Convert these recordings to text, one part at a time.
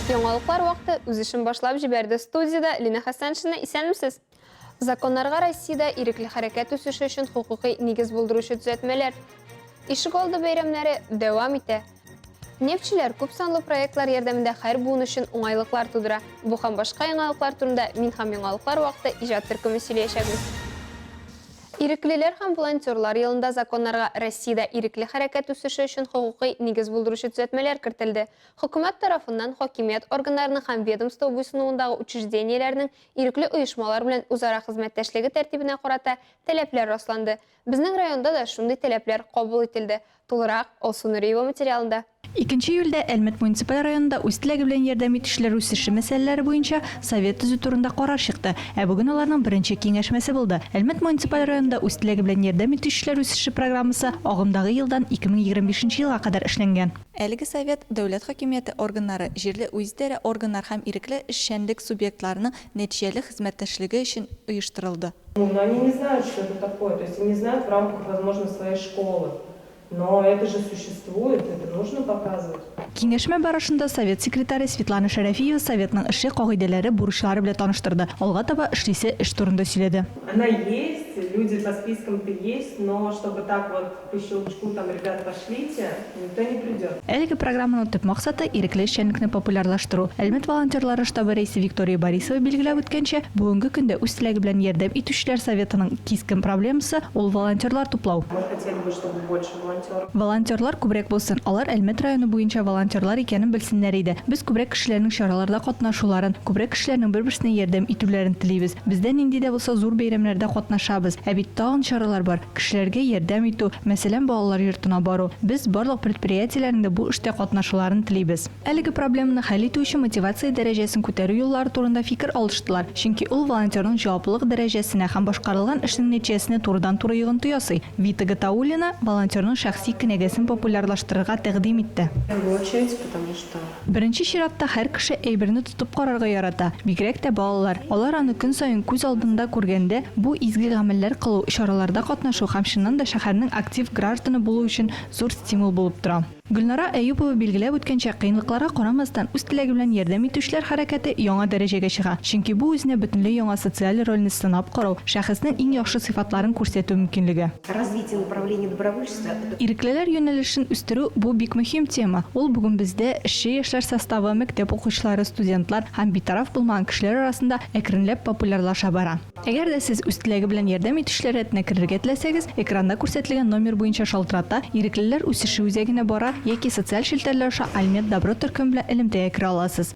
Яңалыклар вакыты үз эшен башлап җибәрде. Студиядә Лина Хәсәншина. Исәнмесез! Законнарга Россиядә ирекле хәрәкәт үсеше өчен хокукый нигез булдыручы төзәтмәләр. Ишегалды бәйрәмнәре дәвам итә. Нефтьчеләр күп санлы проектлар ярдәмендә хәр буын өчен уңайлыклар тудыра. Бу һәм башка яңалыклар турында Мин һәм яңалыклар вакыты иҗат төркеме сөйләячәкбез. Иреклеләр һәм волонтерлар елында законнарга Россиядә ирекле хәрәкәт үсеше өчен хокукый нигез булдыручы төзәтмәләр кертелде. Хөкүмәт тарафыннан хакимият органнарының һәм ведомство буйсынуындагы учреждениеләрнең Ирекле оешмалар белән үзара хезмәттәшлеге тәртибенә карата таләпләр расланды. Безнең районда да шундый таләпләр кабул ителде. Тулырак, Алсу Нуриева материалында. Икенче июльдә Әлмәт муниципаль районында үз теләге белән ярдәм итүчеләр үсеше мәсьәләләре буенча совет төзү турында карар чыкты, ә бүген аларның беренче киңәшмәсе булды. Әлмәт муниципаль районында үз теләге белән ярдәм итүчеләр үсеше программасы агымдагы елдан 2025 нче елга кадәр эшләнгән. Әлеге совет дәүләт хакимияте органнары, җирле үзидарә органнары һәм ирекле эшчәнлек субъектларының нәтиҗәле хезмәттәшлеге өчен оештырылды. Ну, но они не знают, что это такое, то есть они знают в рамках, возможно, своей школы, но это же существует, это нужно показывать. Киңәшмә барышында совет секретаре Светлана Шәрәфиева советның эше, кагыйдәләре, бурычлары белән таныштырды, алга таба эшлисе эш турында сөйләде. Она есть, люди по спискам-то есть, но чтобы так вот Әлеге программаның төп максаты, ирекле эшчәнлекне популярлаштыру. Әлмәт волонтерлары штабы рәисе Виктория Борисова билгеләп үткәнчә, бүгенге көндә үз теләге белән ярдәм итүчеләр советының кискен проблемасы, ул волонтерлар туплау. Волонтерлар күбрәк булсын, алар Әлмәт районы буенча волонтерлар икәнен белсеннәр иде. Без күбрәк кешеләрнең чараларда катнашуларын, күбрәк кешеләрнең бер-берсенә ярдәм итүләрен телибез. Без дә нинди дә булса зур бәйрәмнәрдә катнашабыз. Ә бит тагын чаралар бар. Кешеләргә ярдәм итү, мәсәлән, балалар йортына бару. Без барлык предприятиеләрнең дә бу эштә катнашуларын телибез. Әлеге проблеманы хәл итү өчен мотивация дәрәҗәсен күтәрү юллары турында фикер алыштылар, чөнки ул волонтерның җаваплылык дәрәҗәсенә һәм башкарылган эшнең нәтиҗәсенә турыдан-туры йогынты ясый. Вита Гатауллина волонтерның шәхси кенәгәсен популярлаштырырга тәкъдим итте. Беренче чиратта һәр кеше әйберне тотып карарга ярата, бигрәк тә балалар. Алар аны көн саен күз алдында күргәндә, бу изге гамәлләр кылу, чараларда катнашу һәм чыннан да шәһәрнең актив гражданы булу өчен зур стимул булып тора. Гөлнара Әюпова билгеләп үткәнчә, кыенлыкларга карамастан, үз теләге белән ярдәм итүчеләр хәрәкәте яңа дәрәҗәгә чыга, чөнки бу үзенә бөтенләй яңа социаль рольне сынап карау, шәхеснең иң яхшы сыйфатларын күрсәтү мөмкинлеге. Развитие направления добровольчества. Иреклеләр юнәлешен үстерү, бу бик мөһим тема. Ул бүген бездә, эшче яшьләр составы, мәктәп укучылары, студентлар һәм битараф булмаган кешеләр арасында әкренләп популярлаша бара. Әгәр дә сез үз теләге белән ярдәм итүчеләр рәтенә керергә теләсәгез, экранда күрсәтелгән номер буенча шалтырата, Иреклеләр үсеше үзәгенә бара яки социаль челтәрләр аша Альмед-Добро төркеме белән элемтәгә керә аласыз.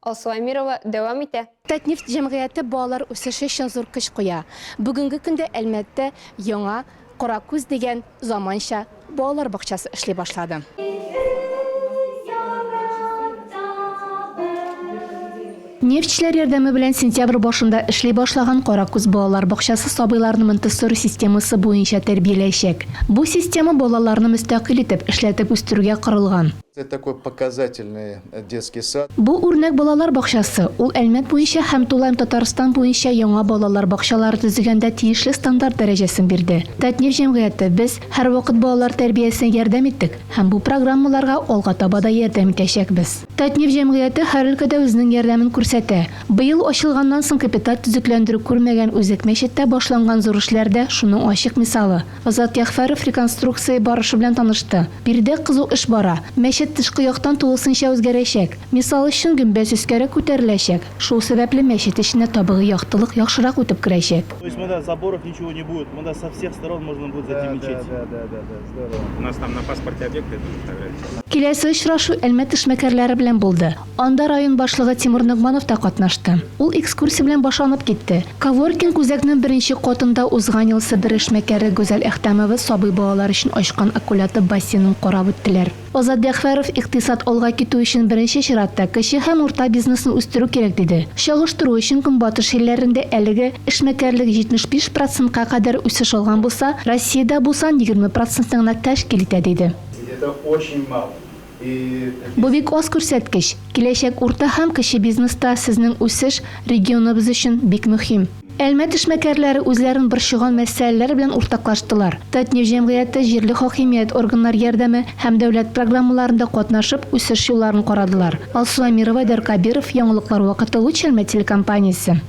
Алсу Әмирова дәвам итә. Татнефть җәмгыяте балалар үсеше өчен зур көч куя. Бүгенге көндә Әлмәттә яңа Кара күз дигән заманча балалар бакчасы эшли башлады. Нефтьчеләр ярдәме белән сентябрь башында эшли башлаган Кара күз балалар бакчасы сабыйларны Монтессори системасы буенча тәрбияләячәк. Бу система балаларны мөстәкыйль итеп, эшләтеп үстерүгә корылган. детский сад. Бу үрнәк балалар бакчасы, ул Әлмәт буенча һәм тулаем Татарстан буенча яңа балалар бакчалары төзегәндә тиешле стандарт дәрәҗәсен бирде. Татнефть җәмгыяте, без һәрвакыт балалар тәрбиясенә ярдәм иттек һәм бу программаларга алга таба да ярдәм итәчәкбез. Татнефть җәмгыяте һәр өлкәдә үзенең ярдәмен күрсәтә. Быел ачылганнан соң капиталь төзекләндерү күрмәгән Үзәк мәчеттә башланган зур эшләр дә шуның ачык мисалы. Азат Ягъфәров реконструкция барышы белән танышты. Биредә кызу эш бара. Мәчет тышкы яктан тулысынча үзгәрәчәк. Мисал өчен, гөмбәз өскәрәк күтәреләчәк. Шул сәбәпле мәчет эченә табигый яктылык яхшырак үтеп керәчәк. То есть монда заборов ничего не будет, монда со всех сторон можно будет зайти в мечеть. Да, да, да, да, здорово. У нас там на паспорте объекты тоже фотографии. Киләсе очрашу Әлмәт эшмәкәрләре белән булды. Анда район башлыгы Тимур Ногманов та катнашты. Ул экскурсия белән башланып китте. Коворкинг үзәкнең беренче катында узган ел Себер эшмәкәре Гүзәл Әхтәмова сабый балалар өчен ачкан аккулятып бассейнын карап үттеләр. Азат Дәхфәров икътисад алга китү өчен беренче чиратта кече һәм урта бизнесны үстерү кирәк диде. Чагыштыру өчен Көнбатыш илләрендә әлеге эшмәкәрлек 75 процентка кадәр үсеш алган булса, Россиядә бу сан егерме процентны гына тәшкил итә, диде. Бу бик аз күрсәткеч. Киләчәк урта һәм кече бизнеста сезнең үсеш регионыбыз өчен бик мөһим. Әлмәт эшмәкәрләре үзләрен борчыган мәсьәләләр белән уртаклаштылар. Татнефть җәмгыяте җирле хакимият органнар ярдәме һәм дәүләт программаларында катнашып, үсеш юлларын карадылар. Алсу Әмирова, Айдар Кабиров, Яңалыклар вакыты, Луч Әлмәт телекомпаниясе.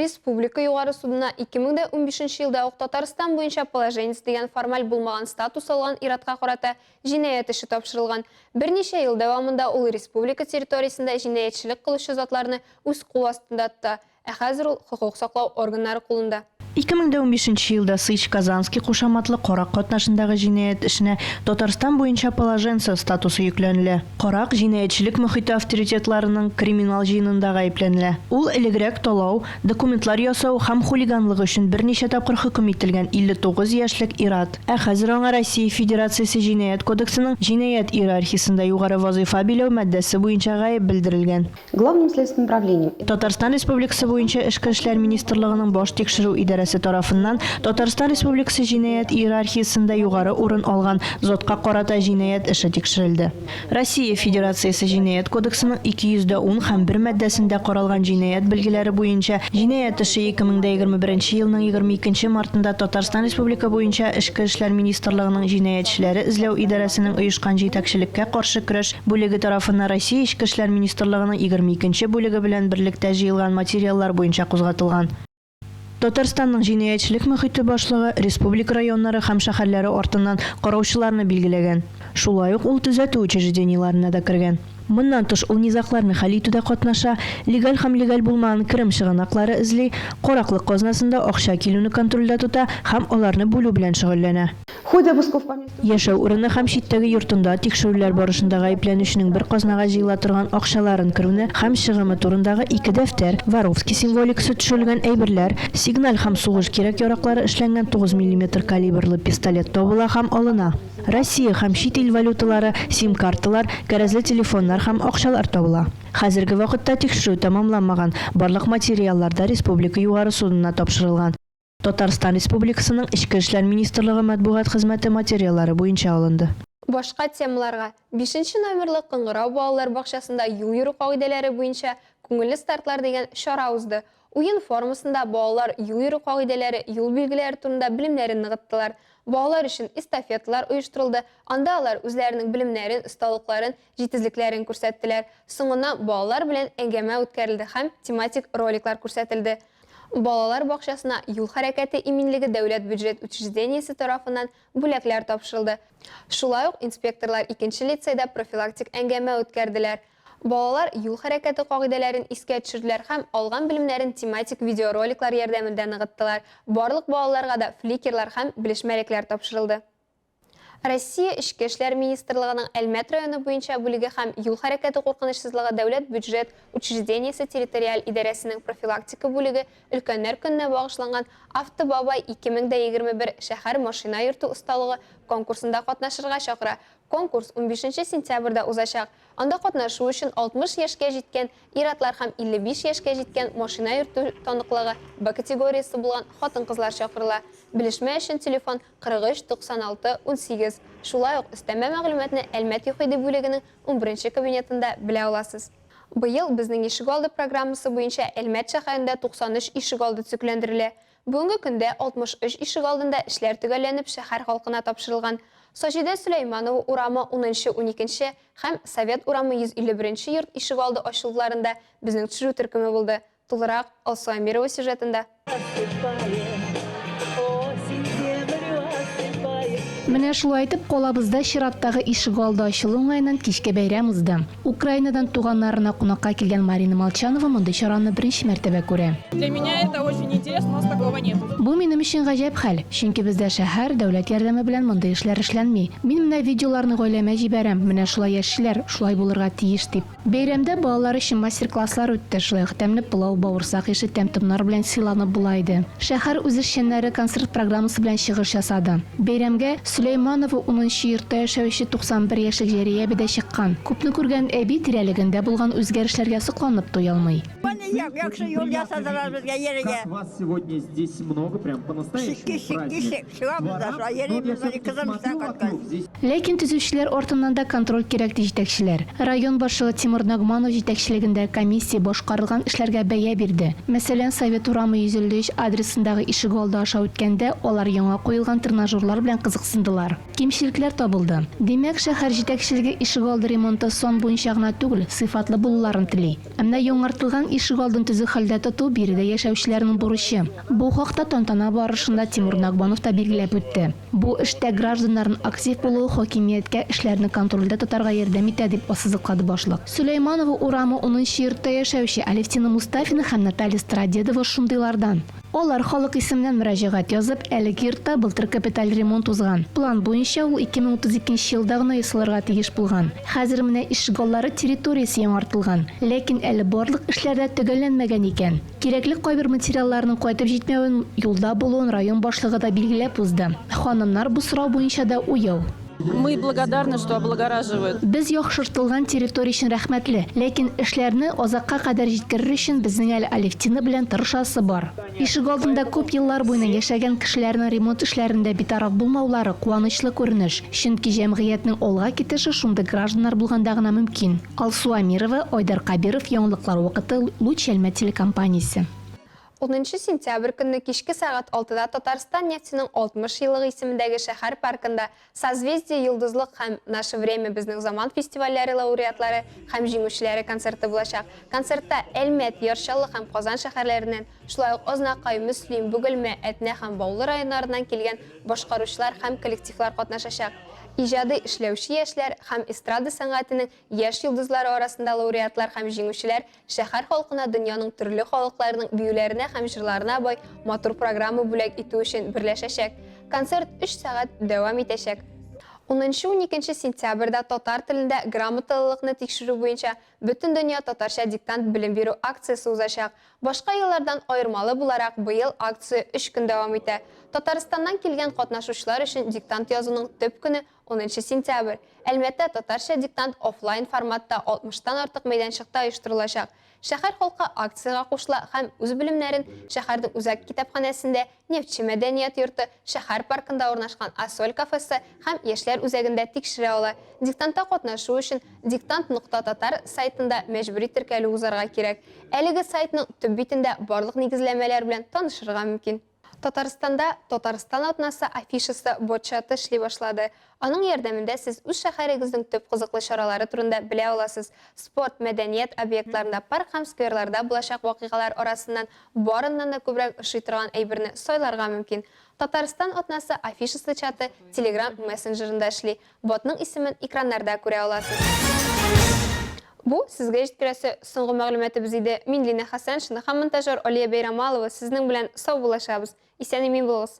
Республика Югары судына ике мең дә унбишенче елда ук Татарстан буенча положенец дигән формаль булмаган статус алган ир-атка карата җинаять эше тапшырылган. Берничә ел дәвамында ул республика территориясендә җинаятьчелек кылучы затларны үз кул астында тота, ә хәзер ул хокук саклау органнары кулында. 2015 нче елда Сыч-Казанский кушаматлы карак катнашындагы җинаять эшенә Татарстан буенча положенцы статусы йөкләнелә. Карак җинаятьчелек мохите авторитетларының криминал җыенында гаепләнелә. Ул элегрәк талау, документлар ясау һәм хулиганлык өчен берничә тапкыр хөкем ителгән 59 яшьлек ир-ат, ә хәзер аңа Россия Федерациясе Җинаять кодексының җинаять иерархиясендә югары вазыйфа биләү маддәсе буенча гаеп белдерелгән. Главным следственным правлением. Татарстан Республикасы буенча Эчке эшләр министрлыгының баш тикшерү идарәсе тарафыннан Татарстан Республикасы җинаять иерархиясендә югары урын алган затка карата җинаять эше тикшерелде. Россия Федерациясе Җинаять кодексының 210 һәм 1 маддәсендә каралган җинаять белгеләре буенча җинаять эше 2021 елның 22 мартында Татарстан Республика буенча Эчке эшләр министрлыгының җинаятьчеләре эзләү идарәсенең оешкан җитәкчелеккә каршы көрәш бүлеге тарафыннан Россия Эчке эшләр министрлыгының егерме икенче бүлеге белән берлектә җыелган материаллар буенча кузгатылган. Татарстанның җинаятьчелек мохите башлыгы республика районнары һәм шәһәрләре артыннан караучыларны билгеләгән. Шулай ук ул төзәтү учреждениеләренә дә кергән. Моннан тыш ул низагларны хәл итүдә катнаша, легаль һәм легаль булмаган керем чыганаклары эзли, караклык казнасында акча килүне контрольдә тота һәм аларны бүлү белән шөгыльләнә. Яшәү урыны һәм читтәге йортында тикшерүләр барышында гаепләнүченең бер казнага җыела торган акчаларын керүне һәм чыгымы турындагы ике дәфтәр, Воровский символикасы төшерелгән әйберләр, сигналь һәм сугыш кирәк-яраклары эшләнгән тугыз миллиметр калибрлы пистолет табыла һәм алына. Россия һәм чит ил валюталары, сим-карталар, кәрәзле телефоннар һәм акчалар табыла. Хәзерге вакытта тикшерү тәмамланмаган, барлык материаллар да республика Югары судына тапшырылган. Татарстан Республикасының Эчке эшләр министрлыгы матбугат хезмәте материаллары буенча алынды. Башка темаларга, бишенче номерлы Кыңгырау балалар бакчасында юл йөрү кагыйдәләре буенча Күңелле стартлар дигән чара узды. Уен формасында балалар юл йөрү кагыйдәләре, юл билгеләре турында белемнәрен ныгыттылар. Балалар өчен эстафеталар оештырылды, анда алар үзләренең белемнәрен, осталыкларын, җитезлекләрен күрсәттеләр. Соңыннан балалар белән әңгәмә үткәрелде һәм тематик роликлар күрсәтелде. Балалар бакчасына юл хәрәкәте иминлеге дәүләт бюджет учреждениесе тарафыннан бүләкләр тапшырылды. Шулай ук инспекторлар икенче лицейда профилактик әңгәмә үткәрделәр. Балалар юл хәрәкәте кагыйдәләрен искә төшерделәр һәм алган белемнәрен тематик видеороликлар ярдәмендә ныгыттылар. Барлык балаларга да фликерлар һәм белешмәлекләр тапшырылды. Россия Эчке эшләр министрлыгының Әлмәт районы буенча бүлеге һәм Юл хәрәкәте куркынычсызлыгы дәүләт бюджет учреждениесе территориаль идарәсенең профилактика бүлеге Өлкәннәр көненә багышланган Автобабай 2021 шәһәр машина йөртү осталыгы конкурсында катнашырга чакыра. Конкурс унбишенче сентябрьдә узачак. Анда катнашу өчен 60 яшькә җиткән ир-атлар һәм 55 яшькә җиткән машина йөртү таныклыгы Б категориясе булган хатын-кызлар чакырыла. Белешмә өчен телефон 43 96 18, шулай ук өстәмә мәгълүматны Әлмәт ЮХИДИ бүлегенең унберенче кабинетында белә аласыз. Быел Безнең ишегалды программасы буенча Әлмәт шәһәрендә 93 ишегалды төзекләндерелә. Бүгенге көндә 63 ишегалдында эшләр төгәлләнеп шәһәр халкына тапшырылган. Саҗидә Сөләйманова урамы, унынчы, уникенче, һәм Совет урамы 151 нче йорт ишегалды ачылуларында безнең төшерү төркеме булды. Тулырак Алсу Әмирова сюжетында. Менә шулай итеп, калабызда чираттагы ишегалды ачылу уңаеннан кичке бәйрәм узды. Украинадан туганнарына кунакка килгән Марина Молчанова мондый чараны беренче мәртәбә күрә. Для меня это очень интересно, у нас такого нету. Бу минем өчен гаҗәп хәл, чөнки бездә шәһәр, дәүләт ярдәме белән мондый эшләр эшләнми. Мин менә видеоларны гаиләмә җибәрәм, менә шулай яшиләр, шулай булырга тиеш дип. Бәйрәмдә балалар өчен мастер-класслар үтте, шулай ук тәмле пылау, бавырсак ише тәм-томнар белән сыйланып була иде. Шәһәр үзешчәннәре концерт программасы белән чыгыш ясады. Бәйрәмгә Сөләйманова унынчы йортта яшәүче 91 яшьлек Җәрия әби дә чыккан. Күпне күргән әби тирәлегендә булган үзгәрешләргә сокланып туя алмый. Яхшы юл ясадылар безгә, Җәрия. Чикки, чикки, чик. Чыгабыз да шулай йөрибез, менә кызым эштән кайткач. Ләкин төзүчеләр артыннан да контроль кирәк, ди җитәкчеләр. Район башлыгы Тимур Нагманов җитәкчелегендә комиссия башкарылган эшләргә бәя бирде. Мәсәлән, Совет урамы 153 адресындагы ишегалды аша үткәндә, алар яңа куелган тренажерлар белән кызыксындылар. Кимчелекләр табылды. Димәк, шәһәр җитәкчелеге ишегалды ремонты сан буенча гына түгел, сыйфатлы булуларын тели. Ә менә яңартылган ишегалдын төзек хәлдә тоту, биредә яшәүчеләрнең бурычы. Бу хакта тантана барышында Тимур Нагманов та билгеләп үтте. Бу эштә гражданнарнын актив булуы хакимияткә эшләрне контрольдә тотарга ярдәм итә, дип ассызыклады башлык. Сөләйманова урамы унынчы йортта яшәүче Алевтина Мустафина һәм Наталья Стародедова шундыйлардан. Алар халык исеменнән мөрәҗәгать язып, әлеге йортта былтыр капиталь ремонт узган. План буенча, ул 2032 нче елда гына ясалырга тиеш булган. Хәзер менә ишегаллары территориясе яңартылган. Ләкин әле барлык эшләр дә төгәлләнмәгән икән. Кирәкле кайбер материалларның кайтып җитмәвен, юлда булуын район башлыгы да билгеләп узды. Ханымнар бу сорау буенча да уяу. Мы благодарны, что облагораживают. Без яхшыртылган территория өчен рәхмәтле, ләкин эшләрне азакка кадәр җиткерер өчен безнең әле Алевтина белән тырышасы бар. Ишегалдында күп еллар буена яшәгән кешеләрнең ремонт эшләрендә битараф булмаулары, куанычлы күренеш, чөнки җәмгыятьнең алга китеше шундый гражданнар булганда гына мөмкин. Алсу Амирова, Айдар Кабиров, яңалыклар вакыты, Луч Әлмәт телекомпаниясе. Унынчы сентябрь көнне кичке сәгать алтыда Татарстан нефтеның 60 еллыгы исемендәге шәһәр паркында Созвездие Йолдызлык һәм Наше время Безнең заман фестивальләре лауреатлары һәм җиңүчеләре концерты булачак. Концертта Әлмәт, Яр Чаллы һәм Казан шәһәрләреннән, шулай ук Азнакай, Мөслим, Бөгелмә, Әтнә һәм Баулы районнарыннан килгән башкаручылар һәм коллективлар катнашачак. Иҗади эшләүче яшьләр һәм эстрада сәнгатенең Яшь йолдызлары арасында лауреатлар һәм җиңүчеләр шәһәр халкына дөньяның төрле халыкларының биюләренә һәм җырларына бай матур программа бүләк итү өчен берләшәчәк. Концерт өч сәгать дәвам итәчәк. Унынчы-уникенче сентябрьдә татар телендә грамоталылыкны тикшерү буенча Бөтендөнья татарча диктант белем бирү акциясе узачак. Башка еллардан аермалы буларак, быел акция өч көн дәвам итә. Татарстаннан килгән катнашучылар өчен диктант язуның төп көне Унынчы сентябрь, Әлмәттә татарча диктант офлайн форматта 60 тан артык мәйданчыкта оештырылачак. Шәһәр халкы акциягә кушыла һәм үз белемнәрен шәһәрнең үзәк китапханәсендә, Нефтьче мәдәният йорты, шәһәр паркында урнашкан Ассоль кафесы һәм Яшьләр үзәгендә тикшерә ала. Диктантта катнашу өчен Диктант нокта татар сайтында мәҗбүри теркәлү узарга кирәк. Әлеге сайтның төп битендә барлык нигезләмәләр белән танышырга мөмкин. Татарстанда Татарстан атнасы афишасы бот-чаты эшли башлады. Аның ярдәмендә сез үз шәһәрегезнең төп кызыклы чаралары турында белә аласыз. Спорт, мәдәният объектларында, парк һәм скверларда булачак вакыйгалар арасыннан барыннан да күбрәк ошый торган әйберне сайларга мөмкин. Татарстан атнасы афишасы чаты Telegram мессенджерында эшли. Ботның исемен экраннарда күрә аласыз. Бу, сезгә җиткерәсе соңгы мәгълүматыбыз иде. Мин Линә Хәсәншина һәм монтажер Алия Бәйрамалова сезнең белән саубуллашабыз. Исән-имин булыгыз!